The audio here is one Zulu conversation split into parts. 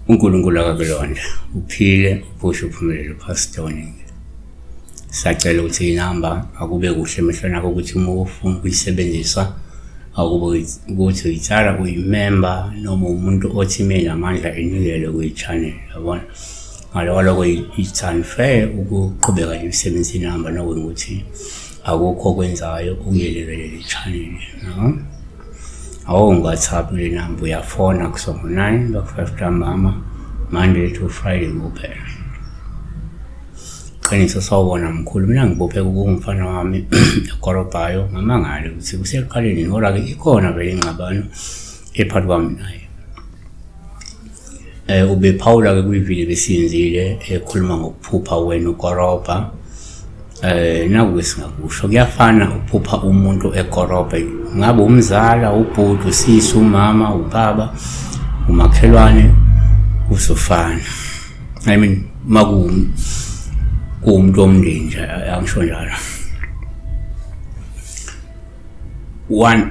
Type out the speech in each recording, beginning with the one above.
uNkulunkulu akakulonda uphile uphushe uphumelele uPastor Oningi sacela ukuthi inamba akube kuhle emehlweni akho ukuthi uma ufuna ukuyisebenzisa akube ukuthi uyitshala uyimemba noma umuntu othi mina amandla enikele kuyi-channel yabona Ngaloku loko it's unfair ukuqhubeka nemisebenzi inihamba nokweni ukuthi akukho okwenzayo ukuyelekele le channel no awungu-whatsapp le namba uyafona kusongo nine baku-five ntambama monday to friday kuphela qiniso sawubona mkhulu mina ngibophe kungumfana wami ekorobhayo ngamangale ukuthi kusekuqaleni ngora-ke ikhona vele ingxabano ephakathi kwami naye Eh ubephawula ke kwivideo besiyenzile ekhuluma ngokuphupha wena ukorobha. Eh naku singakusho kuyafana ukuphupha umuntu ekorobha ngabe umzala ubhuti usisi umama ubaba umakhelwane usofana. I mean maku kuwumuntu omndeni nje angisho njalo. one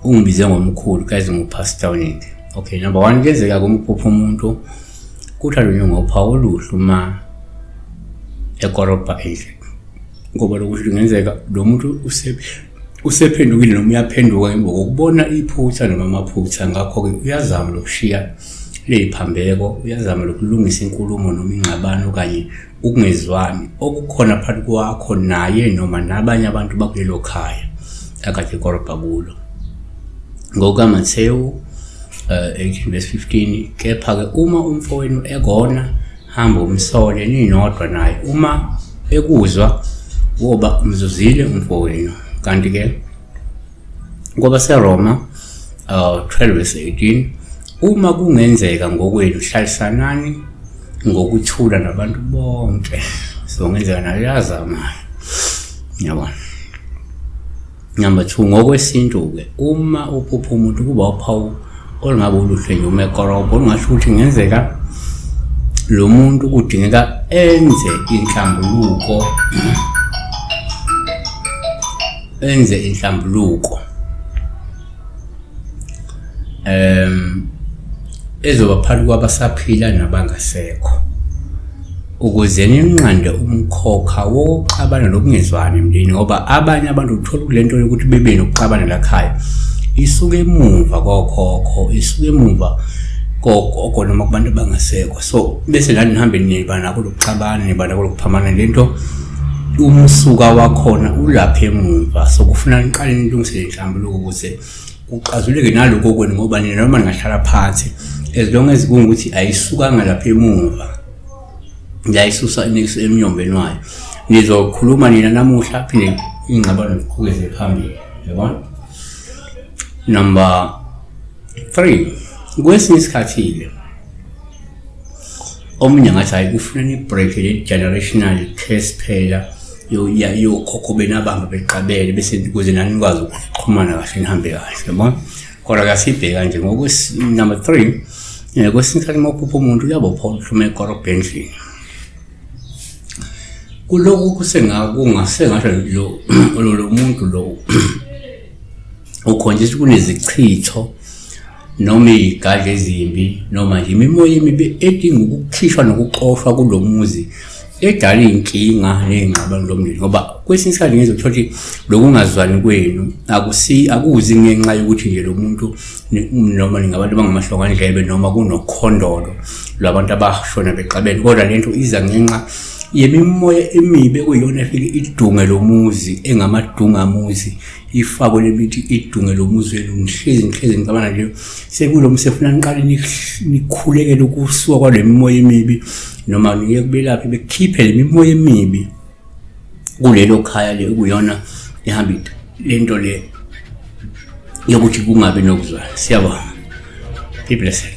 ungibize ngomkhulu kaze ngupastor oninde okay number one kuyenzeka kumphupha umuntu kuthiwa lunye ngopha oluhlu uma ekorobha endlini ngoba lokuthi kungenzeka lo muntu usephendukile noma uyaphenduka emva kokubona iphutha noma amaphutha ngakho-ke uyazama lokushiya ley'phambeko uyazama lokulungisa inkulumo noma ingxabano kanye ukungezwani okukhona phakathi kwakho naye noma nabanye abantu bakulelo khaya akade korobha kulo ngokukaMathewu uh, eh, 18 verse 15 kepha-ke uma umfowenu ekona hamba umsole ninodwa naye uma ekuzwa woba umzuzile umfowenu kanti-ke KwabaseRoma uh, 12:18 uma kungenzeka ngokwenu hlalisanani ngokuthula nabantu bonke so ngenzeka nayo yazamayo yabona number 2 ngokwesintu ke uma uphupha umuntu kuba uphawu olungabe uluhle nje uma ekorobha olungasho ukuthi ngenzeka lo muntu kudingeka enze inhlambuluko enze inhlambuluko em ezoba phakathi kwabasaphila nabangasekho ukuze ninqande umkhokha wokuxabana nokungezwani emndeni ngoba abanye abantu uthola kulento yokuthi bebe nokuxabana lakhaya isuke emuva kokhokho isuke emuva kogogo noma kubantu abangasekho so bese lani nihambe niba nako lokuxabana niba nako lokuphamana lento umsuka wakhona ulapha emuva so kufuna niqale nilungisele inhlambuluko ukuze kuxazuleke naloko kwenu ngoba nina noma ningahlala phansi as long as kungukuthi ayisukanga lapha emuva ngiyayisusa inekiso emnyombeni wayo nizokhuluma nina namuhla phinde ingxabano ziqhubeze phambili yabona number three kwesinye isikhathi-ke omunye ngathi hayi kufuna nibreak le generational case phela yokhokho benabamba beqabele bese kuze nani nikwazi ukuxhumana kahle nihambe kahle yabona kodwa kasibheka nje ngokunumber three um kwesinye isikhathi uma uphupha umuntu uyabophola uhluma ekorobha endlini kulokhu kusengakungasengasho lo lo muntu lo ukhonjisa kunezichitho noma izigadla ezimbi noma nje imimoya emibi edinga ukukhishwa nokuxoshwa kulo muzi edala iy'nkinga ney'ngxabano lomndeni ngoba kwesinye isikhathi ngenza ukuthola ukuthi lokungazwani kwenu akusi akuzi ngenxa yokuthi nje lo muntu noma ningabantu abangamahlongandlebe noma kunokhondolo lwabantu abashona bexabene kodwa le nto iza ngenxa yemimoya emibi ekuyiyona efike idunge lo muzi engamadungamuzi ifakwe lemithi idunge lo muzi wenu ngihlezi ngihlezi ngicabana nje sekulo mse funa niqale nikhulekele ukusuka kwale mimoya emibi noma niye kubelaphi bekhiphe le mimoya emibi kulelo khaya le kuyona ihamba lento le yokuthi kungabi nokuzwana siyabonga be blessed